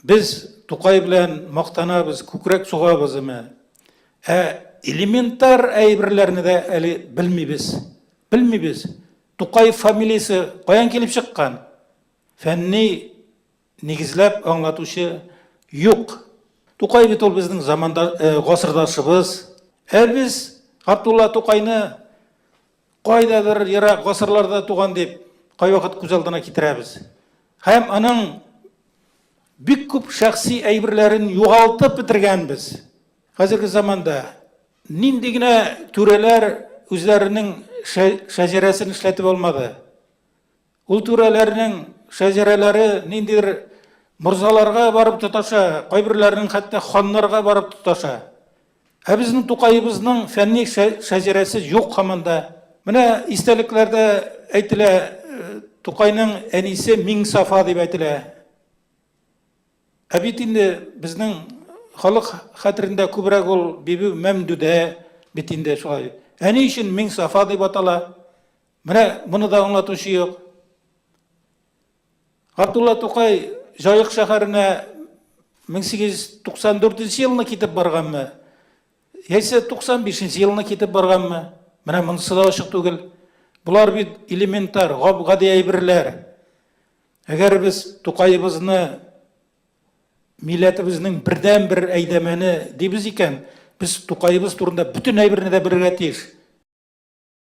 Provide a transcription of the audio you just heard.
Без Тукай белән мактанабыз, күкрәк сугабыз име. Ә элементар әйберләрне дә әле белмибез. Белмибез. Тукай фамилиясе каян килеп чыккан? Фәнни нигезләп аңлатучы юк. Тукай бит ул безнең заманда э, гасырдашыбыз. Ә без Габдулла Тукайны кайдадыр ерак гасырларда туган дип кайвакыт күз алдына китерәбез. Һәм аның бик күп шәхси әйберләрен югалтып бетергәнбез. Хәзерге заманда нинди генә түрәләр үзләренең шәҗәрәсен эшләтеп алмады. Ул түрәләрнең шәҗәрәләре ниндидер морзаларга барып тоташа, кайберләренең хәтта ханнарга барып тоташа. Ә безнең Тукаебызның фәнни шәҗәрәсе юк хаманда. Менә истәлекләрдә әйтелә, Тукайның әнисе Миңсафа дип әйтелә. Ә бит инде безнең халык хәтерендә күбрәк ул Бибү Мәмдүдә бит инде шулай. Әни өчен Миңсафа дип атала. Менә моны да аңлатучы юк. Габдулла Тукай Җаек шәһәренә 1894 елны китеп барганмы? Яисә 95 елны китеп барганмы? Менә монысы да ачык түгел. Болар бит элементар, гап-гади әйберләр. Әгәр без Тукаебызны милләтебезнең бердән-бер әйдәмәне дибез икән, без Тукаебыз турында бөтен әйберне дә белергә тиеш.